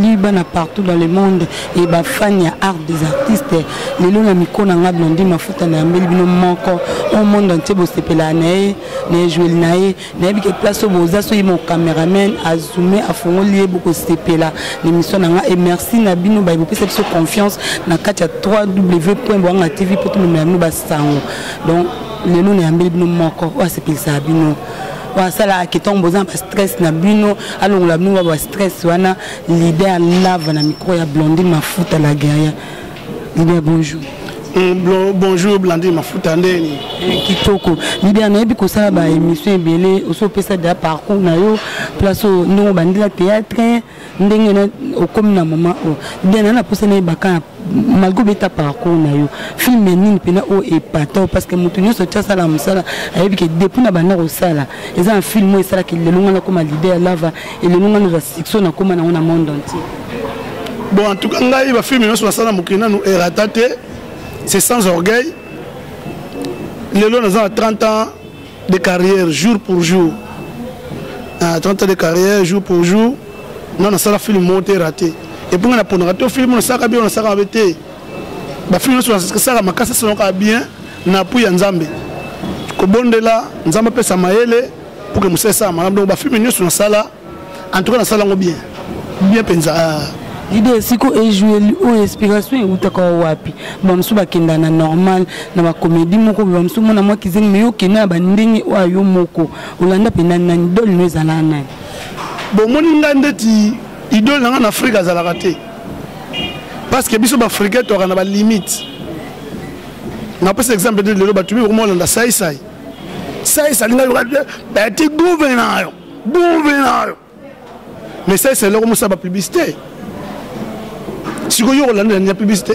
Lui bana partout dans le monde et ba fan ya art des artistes lelo na miko na nga blondi mafuta na yambeli bino moko au monde entier bosepelaka na ye na ejueli na ye nayebi ke place oyo boza soki mon cameraman azume afongoli ye bokosepela na émission na nga et merci na bino baye bopesa biso confiance na kati ya 3w point boanga tv mpo tomemela bino basango donc lelo nayambeli bino moko oyo asepelisaka bino asalaka ke ntango boza na bastress na bino alongola bino ba bastress wana leader lava na micro ya blondine mafuta la guerrier leader bonjour mm, bonjour blandine mafuta ndeni eh, kitoko lider nayebi kosala baémission ebele osi opesa da parcours na yo place ndongo bandela théâtre ndenge na okomi na mama oyo diana na posa na yebaka malgré obeta parcours na yo film nini mpena oyo epata parce que moto nyonso ti asala mosala ayebi ke depuis na banda kosala eza na film oyo esalaki lelo ngai nakoma lide ya lava elelo ngai naza succès nakoma nango na monde entier bon en tout cas ngai bafilme nyonso nasala na mokili nanu erata te c'est sans orgueil lelo naza na 30 ans de carrière jour pour jour na 30 ans de carrière jour pour jour nga nasala film moko te rate epuis nga naponaka te film nasalaka bien nasalaka mabe te bafilme nyonso nasalaka makasi asalaka bien na apui ya nzambe kobondela nzambe apesa mayele mpo ke mosala esala malamu donc bafilme nyonso nasala en tout cas nasala yango bien bien mpenza ah. idee siko ejoue oyo inspiration eutaka wapi bamosusu bakenda na normal na bakomedi moko boye bamosusu mona mwa kizengi me yo okenda na bandenge oyo ayo moko olanda mpe nani nani idole no ezalaka nani bomoni ngai ndeti idole na ngai na afrika azalaka te parce que biso baafricain toyaka na balimite napesa exemple te lelo bato mikomolanda saisai saisai alinga yoka beti guverneur bube nayo mais ça c'est eloko mosala bapublicité sikoyo okolandela nini ya publicité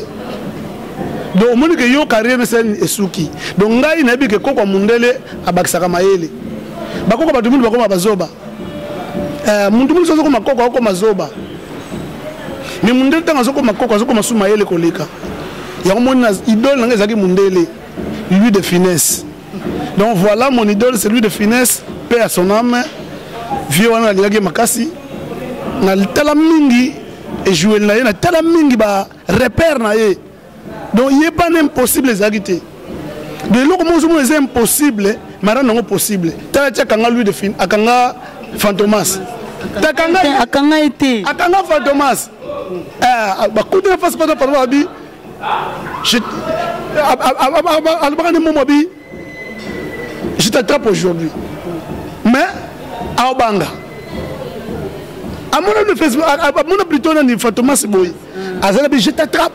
donc omoni ke yo carrière msn esuki donc ngai nayebi ke kokwa mundele abakisaka mayele bakoko bato mingi bakoma bazoba eh, muntu mingi azokoma koko akoma zoba mais mundele ntango azokoma koko azokoma su mayele koleka yango moni na idole na ngai ezalaki mundele lui de finesse donc voilà mon idole celui de finesse paix à son âme vieux wana nalingaki ye makasi natala mingi ejoueli na ye natala mingi ba repère na ye donc ye bana impossible ezalaki te de eloko moko ozomona eza impossible marane yango possible tala ti akanga lui de fin akanga fantomas akanga ye te akanga fantomas eh, bakutana fasi pata pata babi alobaka nde momo abi je t'attrape aujourd'hui mais aobanga amona facebook amona plutôt nani fantomas boye aza na bi je t'attrape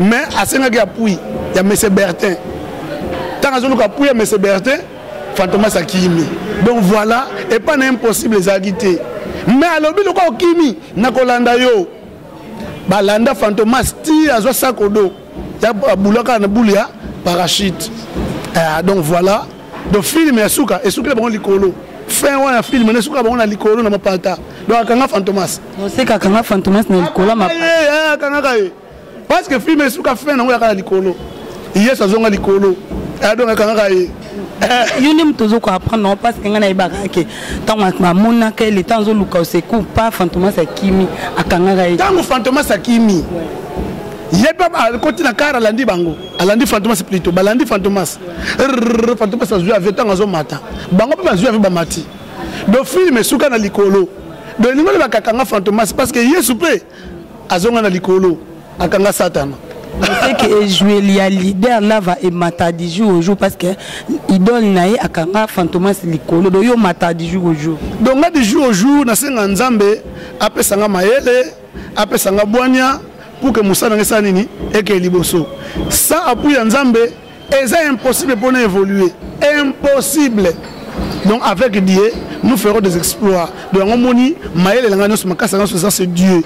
mais asengaki apui ya monsieur bertin ntango azoluka apui ya monsieur bertin fantomas akimi donc voilà epai na impossible ezalaki te mais alobi lokola okimi nakolanda yo balanda fantomas ti azwa sakodo ya abulaka na bulu ya parachute ah, donc voilà donc filme ya suka esukela bango likolo fin wana filme na esukela bango na likolo na mapata donc akanga fantomas oseka akanga fantomas na likolo eh, akangaka ye parce que filme esuka fin nango yaka na likolo yesu azonga likolo ah, donc akangaka ye yo nde moto ozoka apprendre yango parce que ngai nayebaka yake ntango bamonaka ye leta azoluka osecour pa fantomas akimi akangaka ye ntango fantomas akimi ye mpe akoti na kar alandi bango alandi fantomas plito balandi fantomas fantomas azwi avio ntango azomata bango mpe bazwi avio bamati do filme esuka na likolo do elingo loba kakanga fantomas parce que yesu mpe azonga na likolo akanga satana c'est que ejouer ya leader lava emata du jour au jour parce que idole na ye akanga fantomas likolo do yo mata du jour au jour donc nga du jour au jour nasenga nzambe apesa nga mayele apesa nga bwania pour que mosala nanga esala nini ekee liboso sa apui ya nzambe eza impossible pona évoluer impossible donc avec dieu nous ferons des exploits donc yango omoni mayele elanga nyonso makasi nyonso eza c'est dieu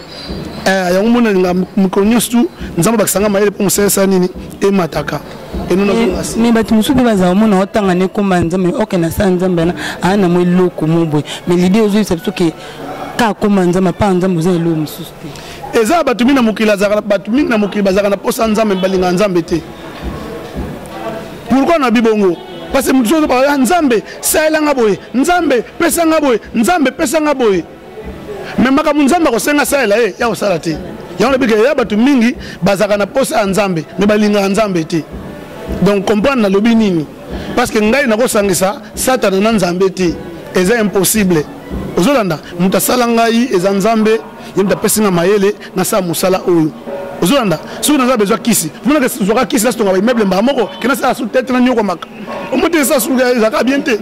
eh, yango omoni alinga mikolo nyonso tu nzambe abakisa nga mayele mpo mosalisa nini emataka me bato mosusu mpe bazala omona otanga na ekomba nzambe oke na sala nzambe wana aa na mwa eloko mo boye me lide ozoyisa biso ke ka akoma nzambe apaa nzambe oza eloko mosusu te eza bato mingi na mokili azalaka bato mingi na mokili bazalaka na mposa nzambe balingaka nzambe te pourkoi na bibongo parce que mosusu ozobaka ah, nzambe salela nga boye nzambe pesa nga boye nzambe pesa nga boye me makambo nzambe akosenga asalela ye ya kosala te yango nabika ya bato mingi bazalaka na mposa ya nzambe me balingaka nzambe te donc comprendre nalobi nini parce que ngai nakosangisa satana na nzambe te eza impossible ozolanda moto asala ngai eza nzambe ye moto apesi nga mayele nasala mosala oyo ozolanda soki naza besoin kisi monaka zwaka kisi nasitonga baimmeuble mbaa moko kena sala su tete na nyokwamaka omoteli sala su ezalaka bien te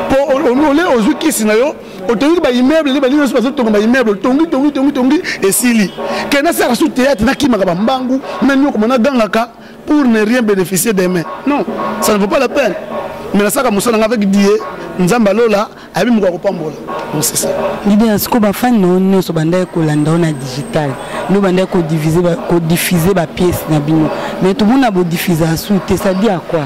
mpo ah. ole ozwi kisi na yo otongi baimmeuble nde balingi nyonso bazotonga baimmeuble otongi tongi tongi tongi esili kena sala su teyatre nakimaka bambangu na nyokoma nagangaka pour ne rien bénéficier demain non ça ne vaut pas la peine mais nasaka mosala nga avec die nzambe alola ayebi moko akopambola donc c'est ça idea siko bafani na yo nyonso bandaki kolanda yo na digital no bandaki kodiffuze bapiece na bino mais tomona bodiffuze asu te sadi a quoi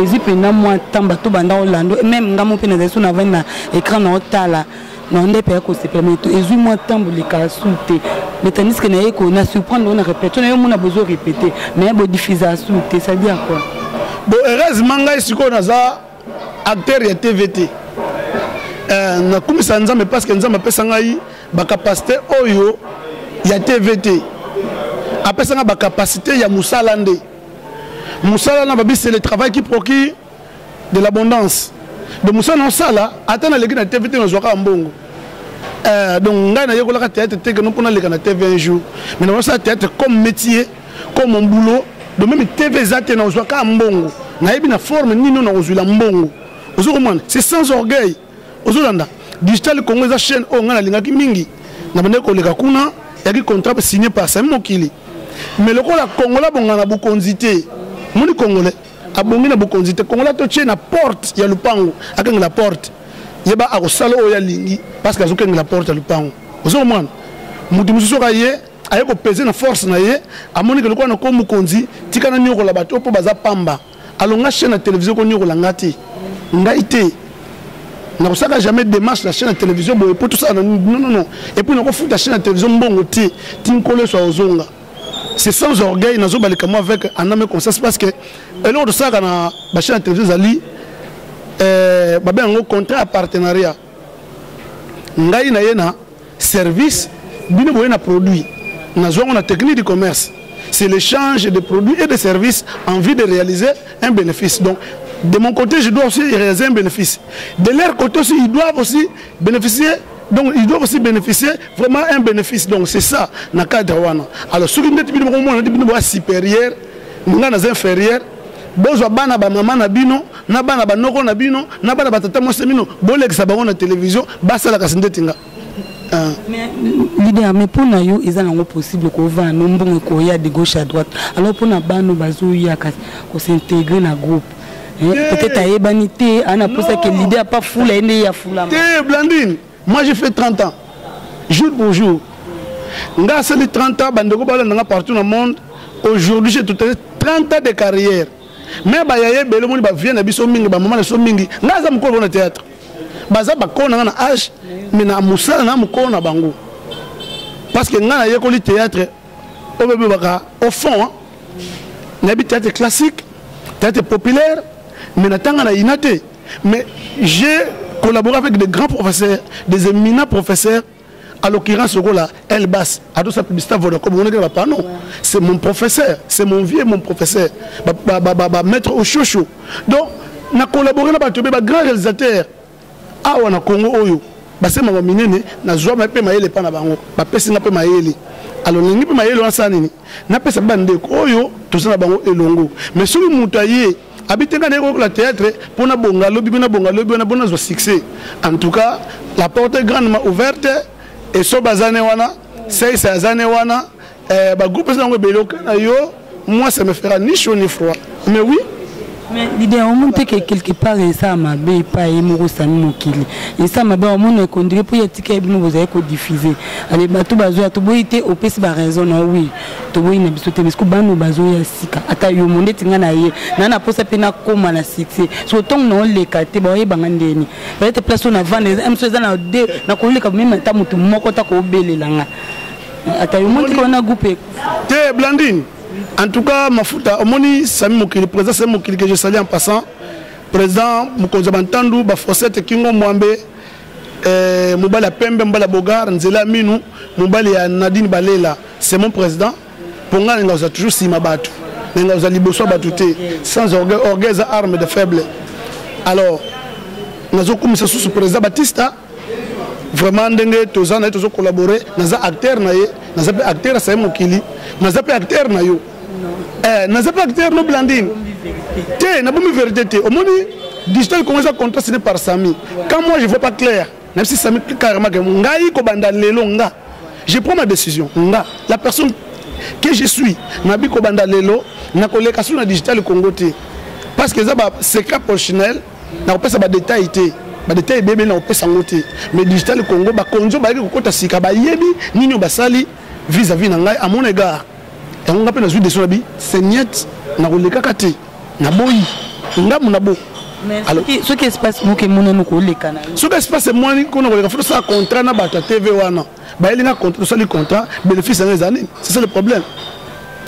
ezwi mpenza mwa ntango bato banda kolanda meme ngai mo mpe nazali so navandi na écran na otala na onda epe ya kosepela me ezwi mwa ntambo leka su te mais tandis que naye ko na surprendre yo na répète na yo mona bozo répéter mais bo diffuser asu te ça dit à quoi bon heureusement ngai sikoyo naza acteur ya tv te euh, nakumisa nzambe parce que nzambe apesa ngai bacapacité oyo ya tv te apesa ngai bacapacité ya mosala nde mosala na babisi le travail qui procure de l'abondance donc mosala na osala ata naleki na tv te nazwaka mbongo euh, donc ngai nayekolaka théâtre te keno mpo naleka na tv un jour mais naosala théâtre comme métier comme mon boulot donc meme tv eza te nazwaka mbongo nayebi na forme nini oyo nakozwila mbongo ozo komona c'est sans orgueil ozolanda digital congo eza chaîne oyo ngai nalingaki mingi nabandaki koleka kuna yaki contrat signé par sami mokili mais lokola kongola bongana bokonzi te moni congolais abongi na bokonzi te kongola totie na porte ya lupango akengela porte yeba akosala oyo alingi parce que azokengela porte ya lupango ozo komwana moto mosusu oka ye aye kopese na force na ye amonike lokola na ko mokonzi tika na niokola bato mpo baza pamba alonga chaîne ya télévision koniokola nga te ngai te nakosaka jamais démarche na chaîne ya télévision boye mpo tosala na non non non epuis nakofuta chaîne ya télévision mbongo te ti nkolo yesu akozonga c'est sans orgueil nazo balika moi avec un âme conscience parce que eloko tosalaka na bachaine ya télévision ezali euh, babe yango contrat ya partenariat ngai na ye na service bino boye na produit nazwa yango na technique du commerce c'est l'échange de produits et de services en vue de réaliser un bénéfice donc de mon côté je dois aussi réaliser un bénéfice de leur côté aussi ils doivent aussi bénéficier donc il doit aussi bénéficier vraiment un bénéfice donc c'est ça na cadre wana alors soki ndeti bino bokomona neti bino boya supérieur ngai naza inférieur bozwa bana bamama na bino na bana banoko na bino na bana batata mwasi na bino bolekisa bango na televizio basalaka si ndeti nga ah. leader mais mpo na yo eza nango possible kovanda mbongo ekoya de gauche à droite alors mpo na bano bazoyaka kosintegre na groupe Eh, peut-être ayebani te ana posa ke l'idée apa fula ye nde ye afulama te blandine moi j'ai fait 30 ans jour pour jour nga asali 30 ans bandeko balanda nga partout na monde aujourd'hui j'ai tout 30 ans de carrière mais bayaya ebele omoni bavie na biso mingi bamama na biso mingi nga aza mokolo na théâtre baza bakolo na nga na age mais na mosala na mokolo na bango parce que nga nayekoli théâtre oyo bebebaka au fond hein? nayebi théâtre classique théâtre populaire mais natanga na ina te mais j'ai collaboré avec des grands professeurs des éminents professeurs à l'occurrence lokola elbas adosa publicité vodacom omonaki na bapano c'est mon professeur c'est mon vieux mon professeur bamaître ba, ba, ba, ba, oshosho donc na collaboré na bato be bagrand réalisateur awa na congo oyo basemaka minene nazwama mpe mayele epa na bango bapesi nga mpe mayele alo nalingi mpe mayele wanasala nini napesa mpe bandeko oyo toza na bango elongo mais soki moto aye abite nga nayekokola théâtre mpo nabonga lobi mpe nabonga lobi wana mpo nazwa succès en tout cas la porte grandement ouverte esoba aza ne wana seise aza ne wana Eh, ba groupe eza nango ebele oka na yo moi ça me fera ni chaud ni froid mais oui mais lider omoni te ke quelque part eza mabe epai ye moko sami mokili eza mabe omoni ekondire mpo ya tika ye bino bozali kodiffuze ale bato bazoya toboyi te opesi baraison na wi toboyi na biso te parce que bano bazoya sika ata yo mo ndeti ngai na ye naa na mposa mpe nakóma na site so ntongo na oleka te baoyebanga ndeni peut-être place oyo na vanda emiso eza na de nakoleka meme ata moto moko ta kobelela ngai ata yo motiki wana groupe ekufa te blandine en tout cas mafuta omoni sami mokili président sami mokili que je salue en passant président mokonzi ya bantandu baforsete kingo mwambe eh, mobali ya pembe mobali ya bogar nzela ya minu mobali ya nadine balela c'est mon président mpo ngai nalinga kozala toujours nsima bato nalinga kozala liboso ya bato te sans orgueil orgueil eza arme de faible alors nazokumisa susu président batista vraiment ndenge toza na ye tozo collabore naza acteur na ye naza mpe acteur asaye mokili naza mpe acteur na yo eh, naza mpe acteur no blandine te nabomi verité te omoni digital congo eza contrat sine par sami quand moi je vois pas clair même si sami carrément ke ngai kobanda lelo nga je prends ma décision nga la personne que je suis nabi kobanda lelo nakoleka soki na digital congo te parce que eza basecret professionnel nakopesa badetail te badetail ebebe nakopesa yango te mais digital congo bakonzi bayaki kokota sika bayebi nini oyo basali vis à vis na ngai amona egare yango ngai mpe nazwi deso na bi seignete nakolekaka te naboyi ngambo na bo soki espace moko emonani koleka na soki espace emwani kona koleka fo tosala contrat na bato ya tv wana bayeli nga contrat tosali contrat bénéfice yango eza nini c'est ça le problème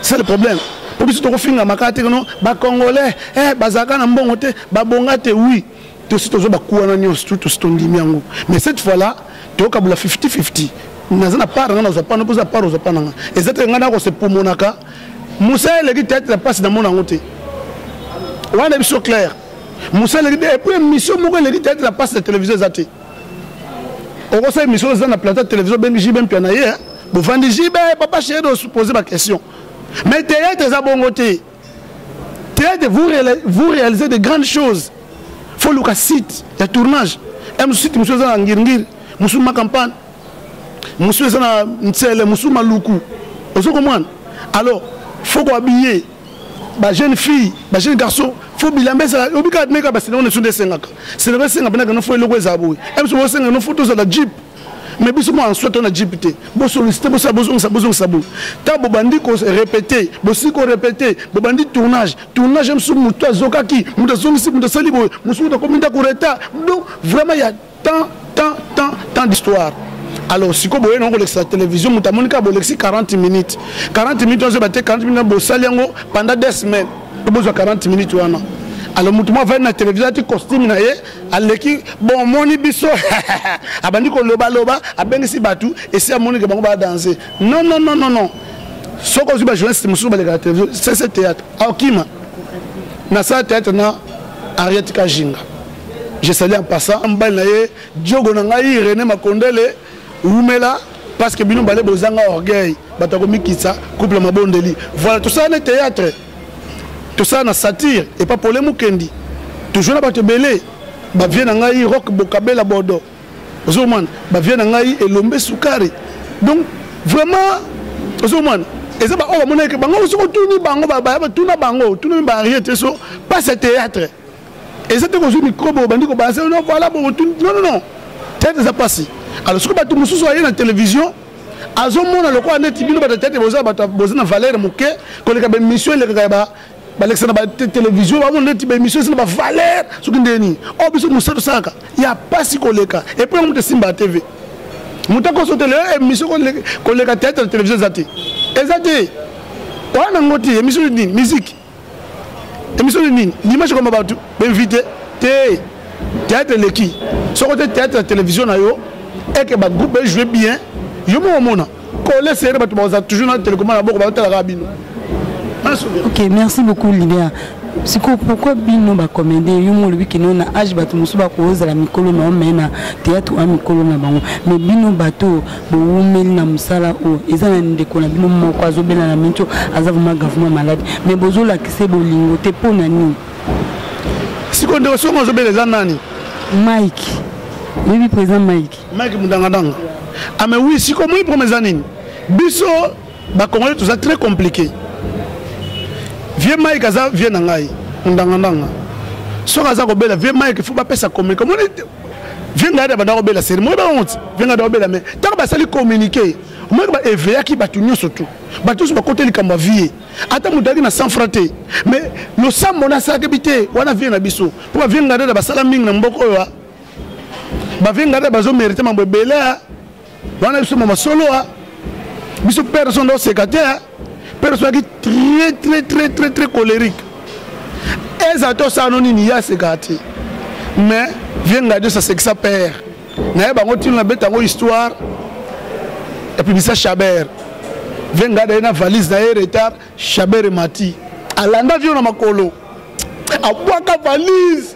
c'est ça le problème mpo biso tokofingama kaka te kono bacongolais eh, bazalaka na mbongo te babonga te oui tosi tozwa bakuwa na nyonso tu tosi tondimi yango mais cette fois là tokabula 50 50 naza na part nga nazwa pana mpoza part ozwa pana nga eza te ngai nakose pomonaka mosala eleki teatre ya mpasi namona yango te wana biso claire mosala eleki epuis émission moko eleki teatre ya mpasi na télévision eza te okosala émission oza na plateau télévision obengi jibe mpia na ye bovandi jibe papa chéri osupose baquestion mais théâtre eza bongo te théâtre vous, vous réalisez de grandes choses fo luka site ya tournage ya mosusu site mosusu eza na ngirngiri mosusu makampane mosusu eza na nsele mosusu maluku ozo komwana alors fo koabiye ba jeune fille ba jeune garçon fo bilamba ezala obi kaka meka ba sinema nesu nde esengaka sinema esenga mpenaka no fo eloko ezala boye mso bosenga no fo tozala jeep mais biso mwa nsoi to na jeep te bosolisite bosala bozongisa bozongisa boye ntango bobandi korepete bosili korepete bobandi tournage tournage mso moto azokaki moto azongisi moto asali boye mosu moto akomi ndako reta donc vraiment ya tant tant tant tant d'histoire alors siko boye na kolekisa télévision moto amoni kaka bolekisi 40 minutes 40 minutes ozoba te 40 minutes bosali yango pendant deux semaines bozwa 40 minutes wana alors moto mwa avandi na télévision ati costume na ye aleki bon omoni biso abandi kolobaloba abengisi bato esi amonike bango badanse non non non non non soki ozwi bajournaliste mosusu balekaka télévision sese théâtre akima nasala théâtre na ariette kajinga Je salue en passant mbali na ye Diogo na ngai René Makondele wumela parce que bino bale bozanga orgueil bato ya komikitisa couple mabondeli voilà tosala na théâtre tosala na satire epa pole mokendi tojoue na bato ebele bavie na ngai rock bokabela bodo ozomana bavie na ngai elombe sukari donc vraiment ozomana eza baoyo bamonaki bango soki otuni bango batuna bango otuna mi baarriete so pase théâtre eza te kozwi mikrobe obandi kobalasa no voilà bokotuni non non non tete eza mpasi alors soki bato mosusu aye na télévision azomona lokola neti bino bato tete boza bato boza na valeur moke koleka baémission elekaka ya balekisa na batélévision bamona neti baémission esi na bavaleur soki ndenge nini oyo oh, biso mosala tosalaka ya mpasi koleka epo yango moto esimba ya tv moto akoso tele eh, émission koleka tete na télévision eza te eza te wana yango te émission nini miziki émission de nini dimanche koma bato bainvite te théâtre eleki soko te théâtre ya télévision na yo eke bagroupe ejoue bien yo moko omona kole sere bato bakozala toujours na telekoma na boko baotalaka bino ok merci beaucoup libia sikoyo pourkui bino bacomédie yo mo olobi kino na age bato mosusu bakozala mikolo na yo mai na théâtre oya mikolo na bango mais bino bato bowumeli na mosala oyo eza na ndeko na bino moko azobela na minto aza vraimen gavement malade mais bozolakise bolingo te mpo na nini siko ndeko songo azobela eza nani mike oyebi président mike mike mudangadanga ame ah, wi siko moi problème eza nini biso bacongolais toza très compliqué vieux mike aza vieux na ngai mudangadanga soki aza kobela vieux mike fo bapesa communique omoni vengada banda kobela seri moyeba yango ti vengada kobela me ntango basali communiqué omoyaki ba eveyaki bato nyonso tu bato nyonso bakota likambo ya vie ata moto ayaki na cent franc te mais losambo na asalaki bi te wana vie na biso mpo bavengada basala mingi na mboka oyo bavengada bazomérite mambo ebele Bana biso mama solo a biso père son do secrétaire père soki très très très très très colérique eza to sa no nini ya secrétaire mais viens regarder sa sexe père naye bango tino na beta ngo histoire et puis bisa Chabert viens regarder na valise na retard Chabert mati alanda vio na makolo abwaka valise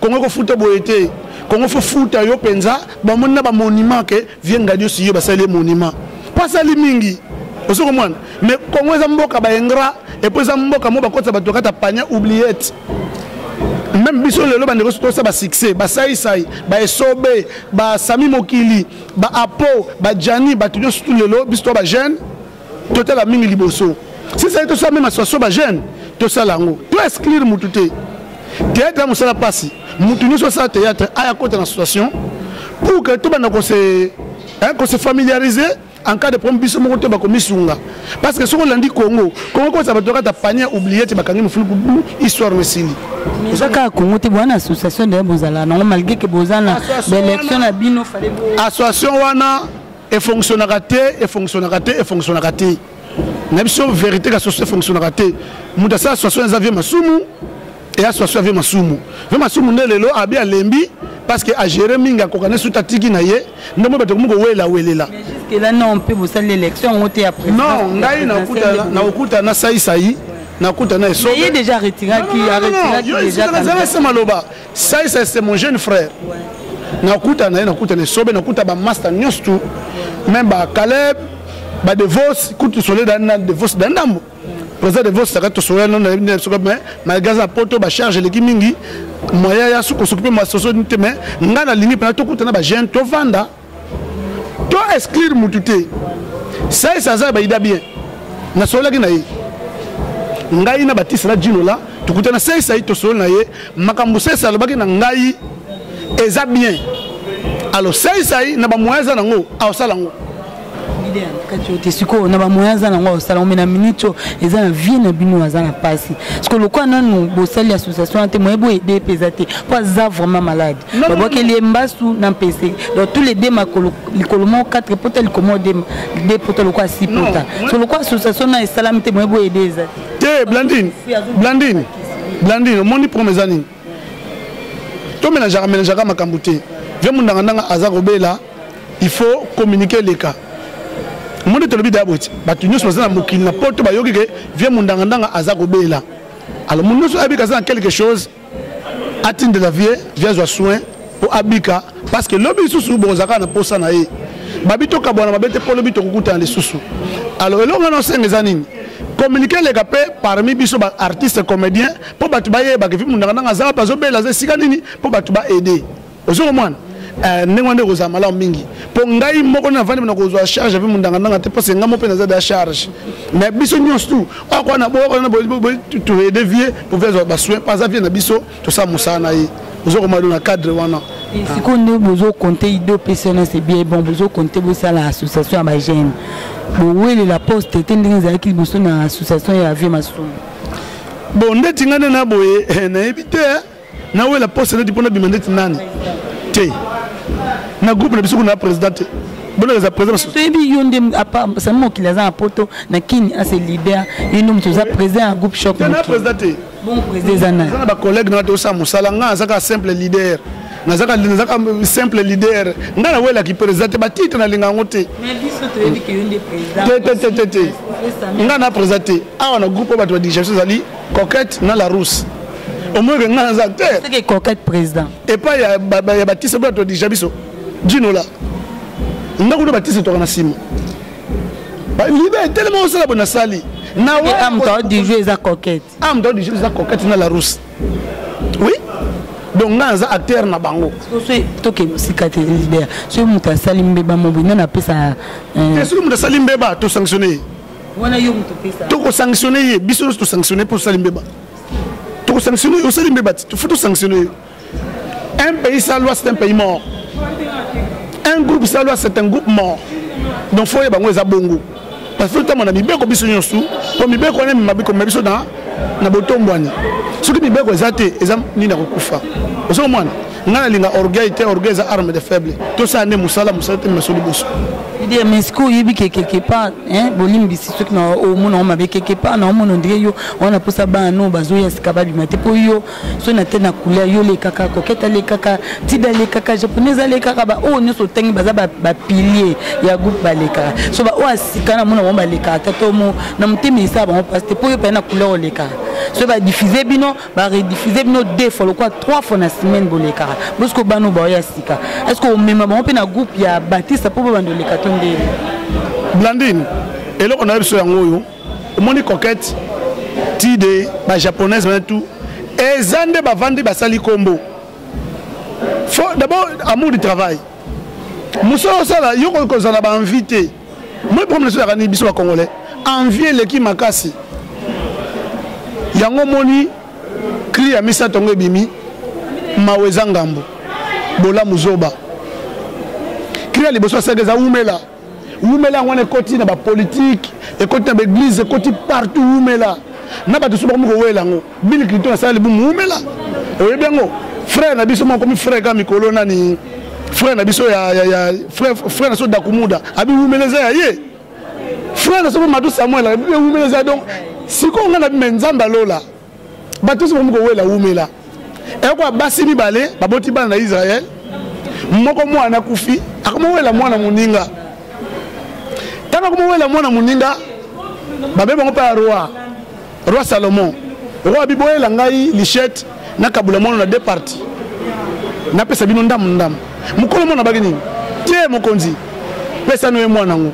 Congo ko futa boye te. Congo faut futa yo penza ba moni na ba monument ke vieux Ngadio Siyo basali monument. Pas sali mingi. Ozo comprendre? Mais Congo eza mboka ba ingra et puis eza mboka mo bakotsa bato kata pania oubliette. Même biso lelo ba ndeko to sa ba succès, ba sai sai, ba esobe, ba sami mokili, ba apo, ba jani, ba tunyo surtout lelo biso ba jeune totala mingi liboso sisali tosala meme association ba jeune tosala yango to exclure mutu te théâtre ya mosala mpasi mutu nyonso asala théâtre aya kota na association pour que tobanda kose kose familiariser en cas de problème biso moko te bakomisunga parce que soki olandi congo congo kosa bato kata panier oublie te bakangi mofulu histoire no esili eza kaka congo te bwana association deye bozala nango malgré ke boza na baélection na bino association wana efonctionnaka te efonctionnaka te efonctionnaka te na biso verité ka soso efonctionnaka te moto asala soso eza vie masumu eya soso ya vie masumu vie masumu nde lelo abi alembi parce que agere mingi akoka ne suta tiki na ye nde moi bato komi kowela welela non ngai nakokuta na saisai nakuta na esobe déjà retiraki retiraki déjà maloba Saïs c'est mon jeune frère. Nakuta na ye nakuta na sobe nakuta ba master nyonso tout. Même ba Caleb, ba Devos, kutu sole da na Devos da ndambo. Président Devos saka to sole na na soka mais ma gaza poto ba charge leki mingi. Moya ya suko suko pe ma soso nte mais ngana lingi pa to kuta na ba jeune to vanda. to exclure mutu te sais aza ya baida bien nasololaki na ye ngai na batiste na jino la tokutana sais ayi tosololi na ye makambo sais alobaki na ngai eza bien alors sais ayi na bamoyen aza nango aosala yango te sikoyo na bamoyen aza nango akosala yango me na minute oyo eza na vie na bino aza na mpasi sikoyo lokola nanu bosali association wana te moye boyede mpe eza te mpo aza vraiment malade babwakeli ye mbasu na mpese donc tous les deux makolo likolo moko 4 pota likolo moko de pota lokola si pota so lokola association na esalami te moye boye ede eza te blandine blandine blandine omoni problème eza nini tomelangeaka melangeaka makambo te vie mondangandanga aza kobela il faut communiquer eleka omoni tolobi daya boye ti bato nyonso baza na mokili na poto bayoki ke vie mondangandanga aza kobela alors moto nyonso ayebi kaza na quelque chose atindela vie vie azwa soin mpo abika parce que lobi lisusu bokozalaka na mposa na ye babi tokabwana mabe te mpo lobi tokokutana lisusu alors eloko wana osenga eza nini communiqué eleka mpe parmi biso baartiste comédien mpo bato bayebaka epi mundanga ndanga azala mpe azobela aza esika nini mpo bato baede ozo komwana eh, ndenge wana nde ekozala malamu mingi mpo ngai moko na vandi nakozwa charge ape mondangandanga te parce ngai moko mpe naza da charge mais biso nyonso tu akwa na boyokatoede vie mpo vie azwa basoin mpo aza vie na biso tosala mosala na ye ozo komado na cadre wana sikoyo nde bozokonte ide opesi wana se bien bon bozokonte bosala association ya bagene bowelela poste te ndenge ezalaki liboso na association ya vie masumu bon ndeti ngai nde na boye eh, nayebi te eh. nawela poste neti mpo nabima ndeti nani te na groupe na biso kuna président te bolekeza président toyebi yo nde sami mokili aza na poto na kini ase leader ye nde moto oza président ya groupe choc na président te bon président eza nani na bacollègue na tosala mosala ngai azaka simple leader nazaka nazaka simple leader ngai nawelaki président te batitre nalinga yango te te te te te ngai na président te awa na groupe oyo bato badigation ezali coquette na la rousse omoyeke ngai naza te coquette président epai ya batise boya todija biso dinola ndako nde batise toka na nsima libe etelema osala bo nasali na amtao du jeu eza coquette amtao du jeu eza coquette na la rousse oui donc ngai naza acteur na bango toke mosika te soki moto asali mbeba mobo nani apesa soki moto asali mbeba tosanctionne ye wana yo moto pesa toko sanctionner ye biso nyonso to sanctionner mpo osali mbeba toko sanctionner osali mbeba ti faut to sanctionner yo un pays sans loi c'est un pays mort un groupe sans loi c'est un groupe mort donc faut yeba yango eza bongo parce que ntango na mibeko biso nyonso mpo mibeko wana emema bikomema biso na na botombwani soki mibeko eza te eza nini ya kokufa ozo mwana nga nalinga orgueil te orgueil eza arme de faible tosala nde mosala mosala te meso liboso idee mais siko oyebi ke quelque part bolimbisi soki na omona ngo mabe quelque part na omona ondire yo wana mposa bana no bazoya sika babima te mpo yo soki na te na couleur yo lekaka kokete alekaka tida alekaka japonaise alekaka baoyo oh, nyonso otangi baza bapilier ya groupe balekaka so baoyo asika oh, na mona bango balekaka tatomo na motema esala bango mpasi te mpo yo mpene na couleur olekaka soki badifuse bino ba rediffuser bino deux fois lokola trois fois na semaine bolekaka bosiko bana baoyo ya sika est ce que omema bango mpe na groupe ya batista mpo babanda oleka to ndenge blandine eloko na yo biso yango oyo omoni coquette tide bajaponaise bana tout eza nde bavandi basali nkombo d'abord amour du travail mosala osala yo kozala bainvite moi problème ezo yaka nini biso ba congolais envie eleki makasi yango moni cri ya misato yango ebimi mawa eza ngambo bolamu zoba cri ya liboso asaka eza wumela wumela yango wana ekoti na bapolitike ekoti na baeglize ekoti partout wumela na bato so bakomi kowela yango Bill Clinton asala libumu wumela oyebi yango frère na biso makomi frère ka mikolo nani frère na biso ya, ya, ya frère, frère na biso dakumuda abi wumela eza ya ye frère na biso matu samuel abi wumela eza donc sikoyo ngai na bima nzambe alola bato nyonso bakomi kowela wumela ekoa basi mibale baboti bana na israele moko mwana akufi akomowela mwana moninga ntango akomowela mwana moninga babe bango mpe ya roi Roi Salomon, roi abi boyela ngai lichette na kabula mono na deux parties. Na pesa bino ndamu ndamu. Mukolo mona baki nini? Tie mokonzi. Pesa noye mwana ngo.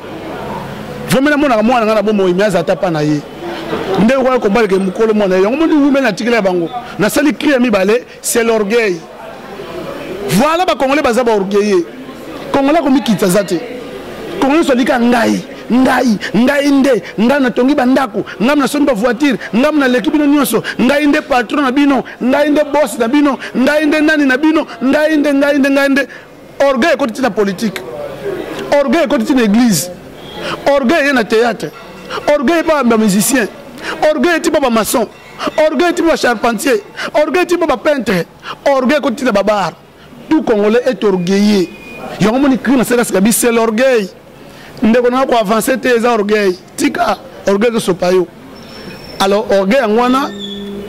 Vomela mona ka mwana ngana bomo imi azata pa na ye. Nde okoya kobaleke mukolo mwana yango moni wumela tikela bango. Nasali cri ya mibale C'est l'orgueil. Voilà ba congolais baza ba orgueilleux. Congolais komikitsa zate. Congolais solika ngai. ngai ngai nde ngai natongi bandako ngai nasombi bavoitire ngai naleki bino nyonso ngai nde patron na bino ngai nde bos na bino ngai nde nani na bino ngai nde ngai nde ngai nde orgueil ekoti ntina politike orgueil ekoti ntina église orgueil eye na théâtre orgueil epa bamusicien orgueil eti ba bamaçon orgueil ti ba charpentier orgueil ti ba peintre orgueil ko tina babar tout congolais est orgueilleux yango moni cri na seka seka bi c'est l'orgueil ndeko na ko avancer te eza orgueil tika orgueil zo sopa yo alors orgueil yango wana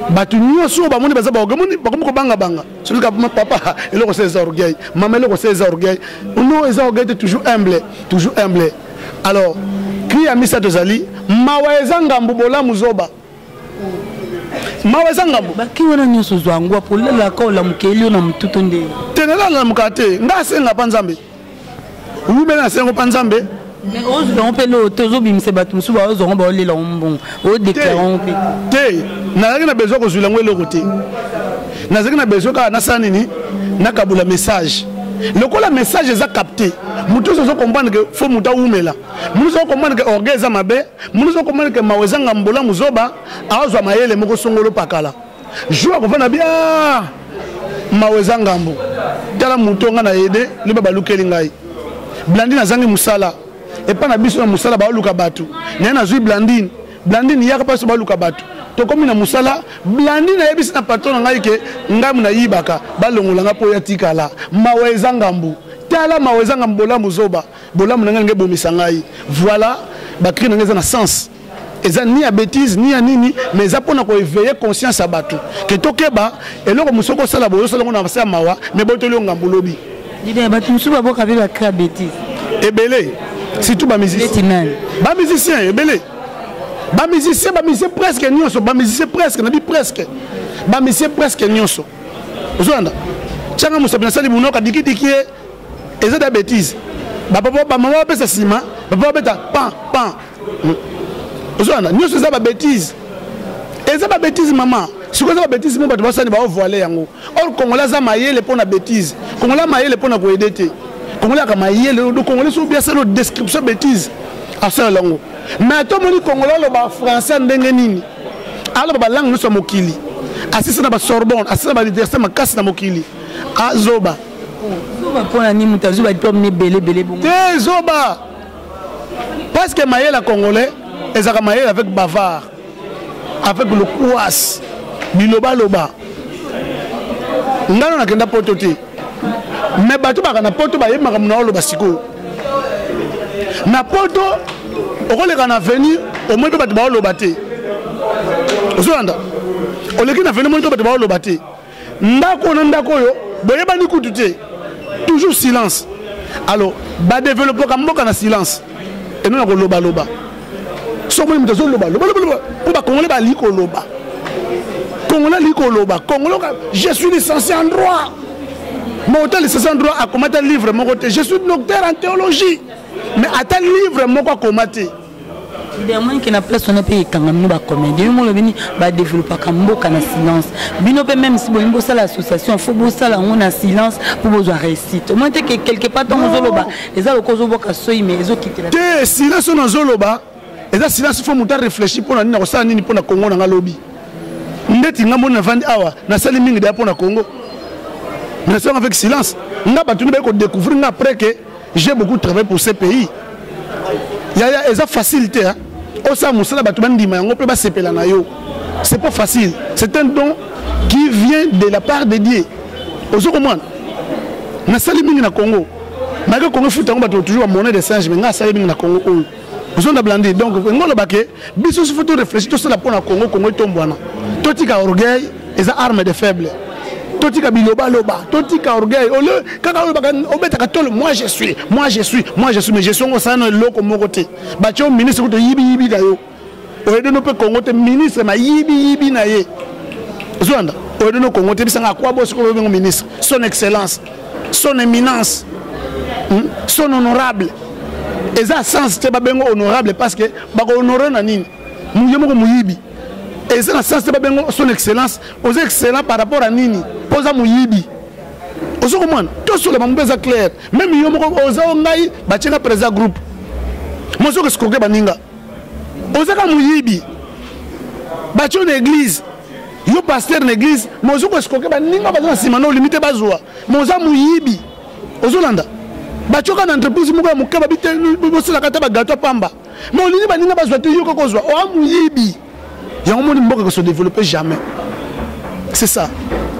bato nyonso oyo bamoni baza baorgueil moni bakomi kobanga banga soki papa eloko se eza orgueil mama eloko se eza orgueil no eza orgueil te toujours humble toujours humble alors cri ya misato ezali mawa eza ngambo bolamu zoba mawa eza ngambo baki wana nyonso ozwa yango apo olalaka olamukeli yo na motu to nde te nalalamuka te ngai asenga mpa nzambe wumela nasenga mpa nzambe mais ozwa yango mpe loo te ozobimisa bato mosusu baozwa yango baolela yango mbongo odeklare yango mpe te nazalaki na besoin kozwila yango eloko te nazalaki na besoin kaka nasala nini nakabula message lokola message eza capte moto oso ozo comprendre ke fo moto awumela moto ozo comprendre ke orgueil eza mabe Munuza okomani ke mawa ezanga mbolamu zoba azwa mayele moko songolo pakala jour akofana bia mawa eza ngambo tala moto nga na ede liba balukeli ngai blandine azangi mosala epai na biso na mosala baoluka bato naye nazwi blandine blandine yaka mpasi baluka bato tokomi na mosala blandine ayebisi na patron na ngai ke ngai nayibaka balongola ngai mpo yatikala mawa eza ngambo tala mawa eza ngambo bolamu zoba Bolamu na ngai ngai bomisa ngai. Voilà, ba cris na ngai eza na sens. eza ni ya betise ni ya nini mais eza mpona koeveille conscience ya bato ke tokeba eloko mosusu okosala boye osala ngo na basi ya mawa mais botoli yo ngambo lobi bato mosusu baboka mpe bakrea betise ebele surtout bamusicien bamusicien ebele bamusicien bamusicien presque nyonso bamusicien presque nabi presque bamusicien presque nyonso ozolanda tianga mosapi nasali bunoka dikidiki ye eza da betise bapapa bamama bapesa nsima bapapa babeta pan pan hmm. ozolanda nyonso eza babetise eza babetise mama sikoyo eza babetise mo bato basani baovoile yango or kongola aza mayele mpo na betise kongola mayele mpo na koyede te kongola yaka mayele kongole so biasalo description betise asala yango mais tomoni kongola aloba français ndenge nini aloba balangue nyonso ya mokili asisi na basorbonne asisi na bauniversité makasi na mokili azoba zoba pona ni muta zoba diplôme ne belé belé bongo te zoba parce que mayela congolais ezaka mayela avec bavard avec le kouas biloba loba ngano nakenda poto te mais bato baka na poto bayebi makambo na oloba sikoyo na poto okoleka na avenir omoi mpe bato baoloba te ozolanda oleki na avenir moi mpe bato baoloba te ndako na ndako oyo boyebani kutu te toujours silence alors badeveloppaka mboka na silence eno na kolobaloba soki omoni moto azoloba lobalobaloba mpo bakongole balingi koloba kongole alingi koloba kongole je suis licencié en droit mauta licencié en droit akoma ata livre moko te je suis docteur en théologie mais ata livre moko akoma te demoni ke na place wana mpe ekanga bino bacomédien yo molobi nini badeveloppaka mboka na silence bino mpe meme si bolingi bosala association fo bosala yango na silence mpo bozwa réussite omoni te ke quelque part ntango ozoloba eza lokola ozobwaka soyi mais ezokitela te silence oyo nazoloba eza silence fo moto arefléchi mpo na nini nakosala nini mpo na kongo na nga lobi ndeti nga moni navandi awa nasali mingi deya mpo na kongo mais nasalaka avec silence nga bato nde baye kodécouvrir nga après ke j'ai beaucoup travaillé pour ce pays yaya eza facile te hein? osala mosala bato bandima yango mpe basepela na yo c'est pas facile c'est un don qui vient de la part de dieu ozo komwana nasali mingi na congo malgré congo efuta yango bato toujours bamone de singe me ngai asali mingi na congo oyo ozonda blandi donc yango olobake biso il faut to réfléchir tosala mpo na congo congo etombwana totika orgueil eza arme de faible totika bilobaloba totika orgueil au lieu kaka olobaka obetaka tolo moi je suis moi je suis moi je suis mais je suis yango osala na eloko moko te batye yo ministre kutu oyibiyibi na yo oyedeno mpe congo te ministre mayibiyibi na ye ozolanda oyedeno congo te bisanga akwa bosi kobengo ministre son excellence son éminence hmm? son honorable eza sens te babengo honorable parce que bakohonore na nini ye moko moyibi eza na sens te babengo son excellence oza excellent par rapport ya nini mpo oza moyibi ozo komona tosoloba mpe eza claire meme yo moko oza o ngai batyeka président groupe mozokoskoke baninga ozaka moyibi batyo na eglize yo pasteur na eglize ma ozo koesikoke baninga baza na nsima na olimi te bazwa ma oza moyibi ozolanda batyoka na entreprise moko ya moke babosalaka ata bagato ya pamba ma olingi baninga bazwa te yo kaka ozwa oa moyibi yango moni mboka ko se développer jamais c'est ça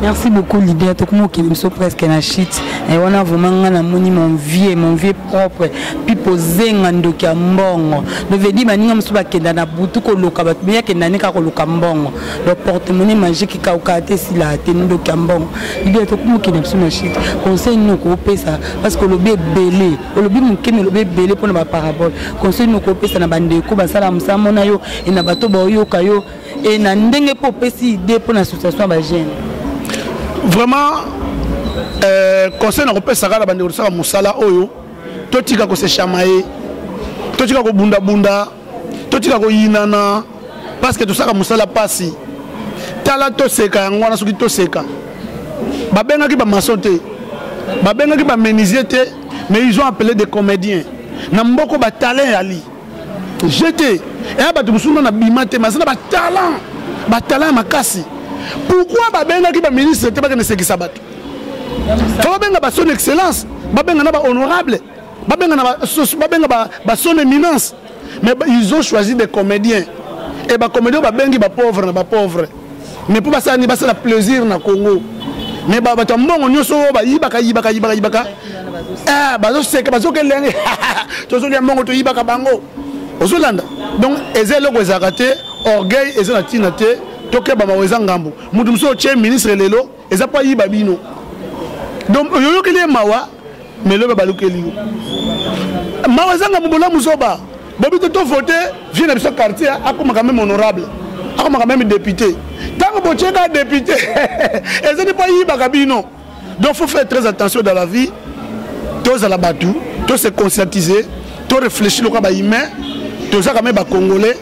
merci beaucoup leader tokomi okende biso presque na chute e wana vraiment ngai namoni mon vieux mon vieux propre pipo zenga ndoki ya mbongo donc vedi baninga mosusu bakenda na butu koluka bato mei akenda ne kaka koluka mbongo donc portemone magique ekaukaa te esilaa te ndoki ya mbongo leader tokomi okende biso na chute conseil nini okopesa parce que olobi ebele olobi moke me olobi ebele mpo na baparabole conseil moko opesa na bandeko basala mosala mona yo e na bato baoyoka yo e na ndenge mpo opesi idée mpo na association ya bagene vraiment euh, conseil na kopesa kaka na bandeko tosala mosala oyo totika kosechamaye totika kobundabunda totika koyinana parceke tosaka mosala mpasi tala toseka yango wana soki toseka babengaki bamaso te babengaki bamenisier te mais ils ont appelé des comédiens na mboko batalent yali jete eya bato mosusu na nabima te maza na batalant batalant ya makasi pourkui babengaki baministre te bakende sekisa bato fo babenga bason excellence babenga na bahonorable babenga na babenga ba, ba son éminence mais ils ont choisi des comédiens et bacomédien babengi bapauvre na bapauvre mais mpo basala nini basala plaisir na congo mais bato ya mbongo nyonso oyo bayibaka yibaka yibaka yibaka eh, bazoseka bazoka elenge tozolya mbongo toyibaka bango ozolanda donc eza eloko ezalaka te orgueil eza na ntina te tokeba mawa eza ngambo moto mosusu otye ministre lelo eza mpo ayiba bino donc oyoyokeli ye mawa mais lobe balukeli yo mawa ezanga mobolamu zoba bobi te tovote vie na biso quartier akomaka meme honorable akomaka meme député ntango botyeka député ezali mpo ayibaka bino donc faut faire très attention dans la vie tozala bato to se conscientiser to réfléchir lokola bahumain tozaka me bacongolais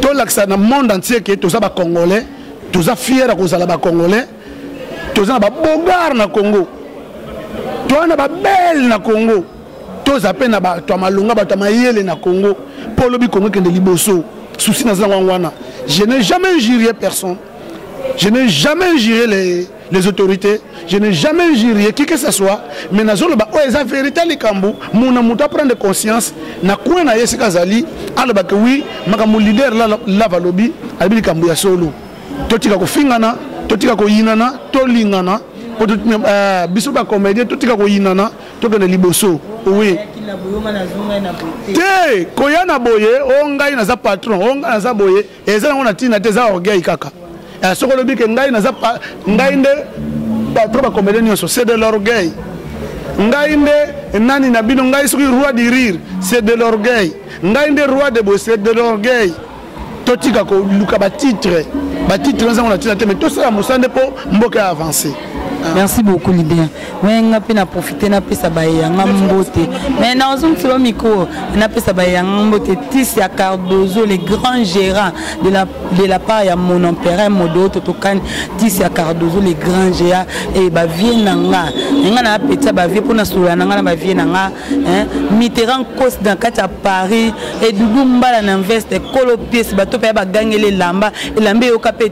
tolakisa na monde entier ke toza bacongolais toza fier ya kozala ba congolais toza na ba bogar na congo toza na ba belle na congo toza mpe na bato ya malonga bato ya mayele na congo mpo olobi congo ekende liboso susi naza yango wana je n'ai jamais injurier personne je n'ai jamais injurier les les autorités je n'ai jamais injurié qui que ce soit mais nazoloba oyo eza vérité likambo muna moto aprendre conscience na coin na ye esika azali alobake wi makambo leader lava alobi alobi likambo ya solo totika kofingana totika koyinana tolingana po euh, biso bacomédien totika koyinana tokende liboso oui te koya na boye o oh, ngai naza patron o oh, ngai naza boye eza nango na ntina te eza orgueil kaka eh, soki olobi ke ngai naza ngai nde patro bakomede nyonso c'est de l'orgueil ngai nde nani na bino ngai soki roi du rire c'est de l'orgueil ngai nde roi de boye c'est de l'orgueil totika koluka batitre batitre eza ngo na ntina te mais tosala mosala nde mpo mboka ya avance merci beaucoup libien me nga mpe na profite napesa baye yanga mbote me nazongiselo mikro napesa baye yanga mbote tis ya cardozo le grand gérant de la, de la part ya mon empereur modo totokani tis ya cardozo le grand gérant e bavie na nga nga na apetisa bavie mpo na solola na nga na bavie na nga mitterrand kosi na kati ya paris edudu mbala na veste kolo piesi bato mpe ya bagangeli elamba elamba eyoka mpe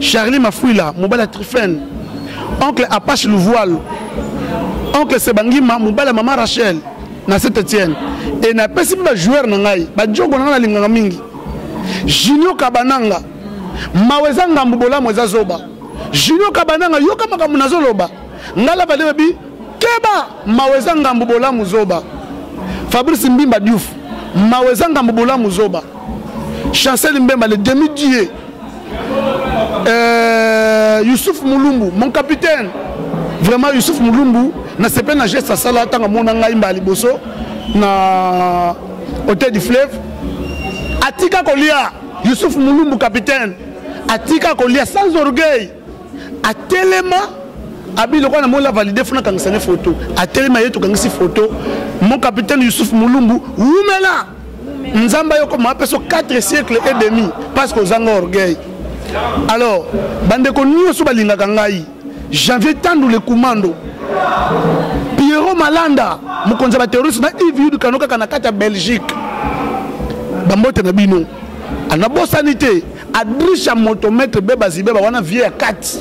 Charlie Mafuila, Mobala Trifen, Oncle Apache Louvoil, Oncle Sebangima, Mobala Mama Rachel, na Saint Etienne. Et na pesi ba joueur na ngai, ba jogo na ngai linganga mingi. Junior Kabananga, Maweza Ngambu Bolamu eza zoba. Junior Kabananga yoka makambo nazo loba. Ngala ba debi keba Maweza Ngambu Bolamu zoba. Fabrice Mbimba Diouf, Maweza Ngambu Bolamu zoba. Chancel Mbemba le demi-dieu Euh, Youssouf Mulumbu, mon capitaine. Vraiment, Youssouf Mulumbu, na sepe na geste asala tanga mona ngai mba liboso na hôtel du fleuve. Atika kolia Youssouf Mulumbu capitaine. Atika kolia sans orgueil. atelema abi lokola na mola valide funa kangisa ne photo atelema ye tokangisi photo mon capitaine Yusuf Mulumbu wumela nzamba yoko ma peso 4 siècles et demi parce que ozanga orgueil alors bandeko nyonso balingaka ngai janvier tandu le commando pierrot malanda mokonzi ya baterroriste na ive yudu kano kaka na kati ya belgique bambote na bino anabosani te adrisha moto maître beba zibeba wana vie ya kati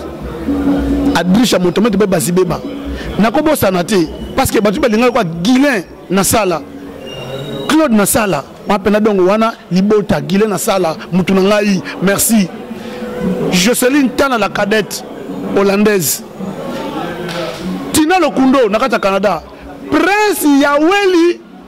adrisha moto maître beba zibeba nakobosana te parce que bato balingaki kwa guilin na sala claude na sala wana mpena dongo wana libota guilin na sala motu na ngai merci joceline tana la cadette hollandaise tina lokundo na kati ya canada prince ya weli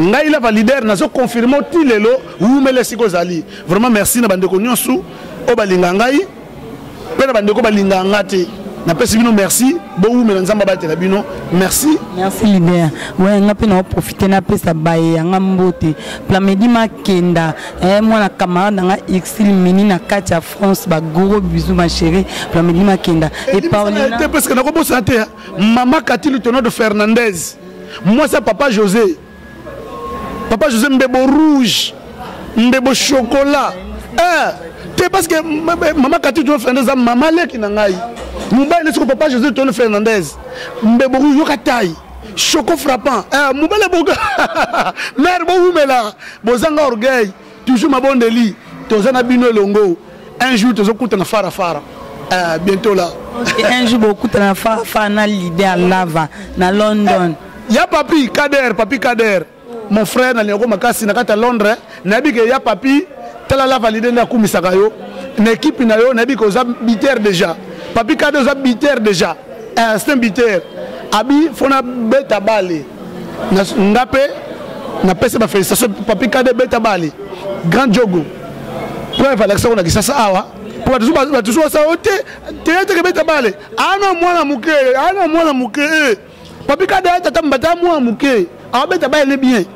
ngai lava leader nazo confirme ti lelo wumela esika ozali vraiment merci na bandeko nyonso oyo balinga ngai mpe na bandeko balinga nga te napesi bino merci bowumela nzambe abatela bino merci merci lider we nga mpe naoprofite napesa baye yanga mbote plamedi makenda eh, mwana camarade nanga exil mini na kati ya france bagoro bisu machéri plamedi makenda epaolina te parce que nakobosana te mama katilu tonado fernandez mwasi ya papa josé papa josé mbebo rouge mbebo chocolat eh, te parce que mama kati tolo fernandez eza mama leki na ngai mobali nde soko papa josé tolo fernandez mbebo rouge yoka tai choco frappant eh, mobali boka mare bowumela bozanga orgueil toujours mabondeli toza na bino elongo un jour tozokutana fara fara uh, bientôt là okay, un jour bokutana na fara fara na leader lava na london eh, ya papi kader papi kader mon frère na liako makasi na kati ya londres nayebi ke ya papi tala lava lide nde akumisaka yo na ekipe na yo nayebi ke oza biter déjà papi kader oza biter déjà eh, c'est un buteur abi fo nabeta bale nga mpe napesa bafélicitation papi kade beta bale grand jogo preuve alakisa ko na kisasa awa mpo batusu basala yo te teyateke beta bale ana mwana moke ana mwana moke eh. papi kade atata mbata mwana moke awabeta bale bien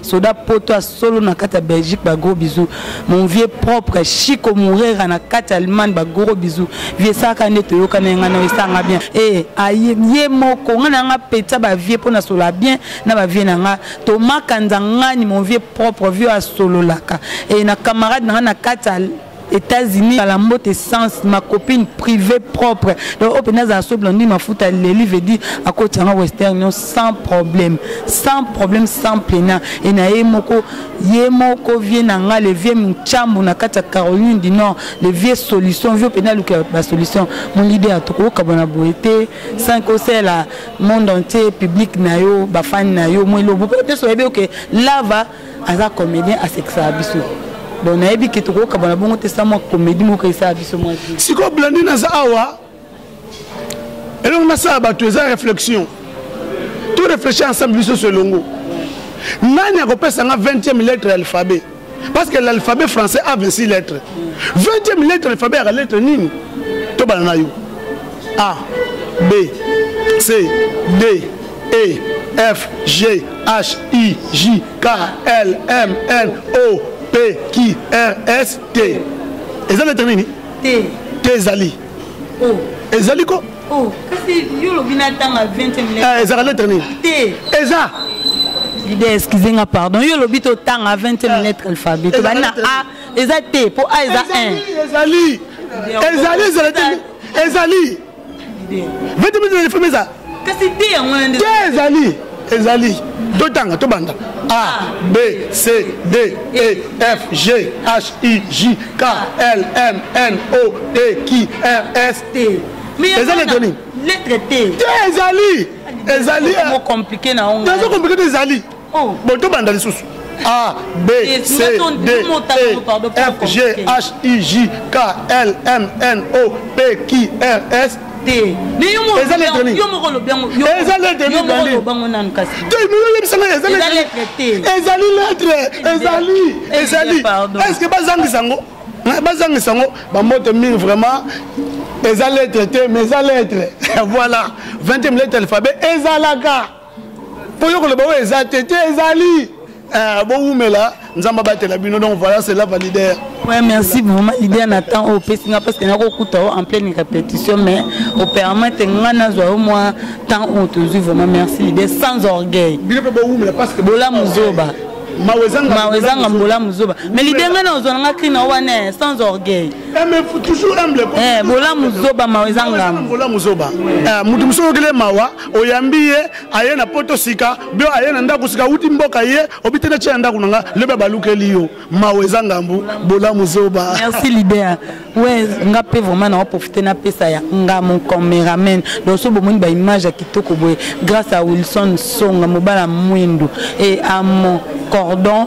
soda poto ya solo na kati ya belgique bagros bisou mon vieux propre chico morera na kati ya allemagne bagros bisou vie esalaka nde toyoka na yanga na esanga bien e aye ye moko ngai na yanga peta bavie mpo na solola bien na bavie na ngai tomakanza ngani mon vieux propre vieux asololaka e na camarade na ngai na kati ya États-Unis kala mbote sens ma copine privée propre donc open aza so blondine mafuta leli veut dire à côté en western non sans problème sans problème sans pena et na ye moko ye moko vieux nanga le vieux mchambu na kati ya Caroline du Nord le vieux solution vieux pena luka ba solution mon leader to ko kabona boete sans ko la monde entier public na yo ba fan na yo moi lobo peut-être que lava aza comédien asekisaka biso donc nayebi ke tokokabana bongo te sa mwa comédie moko esala biso mwa sikoyo blandi naza awa elongo nasala bato eza réflexion to réfléchir ensemble biso so elongo nani akopesa nga 20e lettre ya alphabet parce que l'alphabet français a 26 lettres 20e lettre ya alphabet yaka lettre nini tobana na yo a b c d E, F, G, H, I, J, K, L, M, N, O, P, Q, R, S, T. Eza lettre nini? T. T ezali. O. Ezali ko? O. Kasi yo lobi na tanga 20e lettre. Eh, ezaka lettre nini? T. Eza. L'idée excusez nga pardon. Yo lobi to tanga 20e eh. lettre alphabet. To bana A eza T po A eza 1. Ezali. Ezali ezali. Ezali. vete mizela lifrime eza te ezali ezali totanga tobanda a b c d e f g h i j k l m n o p q r s t eza leto nini te ezali ezali nazo komplike te ezali Oh. Bon, tout banda lisusu. A, B, C, D, E, F, G, H, I, J, K, L, M, N, O, P, Q, R, S, te eza letre nini eza letre nini dani te miyoyebisa ngai eza letre te ezali letre ezali ezali est ce que bazangisa yango bazangisa yango bambote mingi vraiment eza letre te mais eza letre voilà 20e lettre alphabet ezalaka mpo yo koloba oyo eza te te ezali eh, bowumela nzambe abatela bino donc voilà cela va leader Ouais, merci vraiment leader na temps oyo opesi nga parce que nakokuta o en pleine répétition mais opermete nga nazwa yo mwa temps oyo tozwi vraiment merci leader sans orgueil bino mpe bowumela parce que bolamu zoba mawezanga mbola mozoba mais lide ngai na ozwa nanga kri na wana sans orgueil eh, eh, bola mozoba mawezanga moto mosusu okele mawa oyambi ye aye na poto sika bio aye na ndako sika awuti mboka ye obite na tie na ndako na nga lobi abalukeli yo mawa eza ngambu bolamu zoba merci leader we nga mpe vraiment na waprofite napesa ya nga mon cameraman donc so bomoni baimage ya kitoko boye grâce à wilson songa mobala mwindu e amo cordon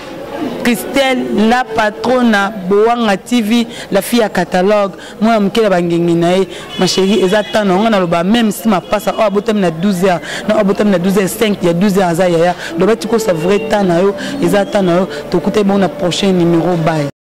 Christelle la patrona Boanga TV la fille à catalogue moi am kela bangengi na ye ma chérie eza temps na ngana loba même si ma passe oh abotam na 12 heures na abotam na 12 heures 5 il y a 12 heures za yaya loba tiko sa vrai temps na yo eza temps na yo to kutai bon na prochain numéro bye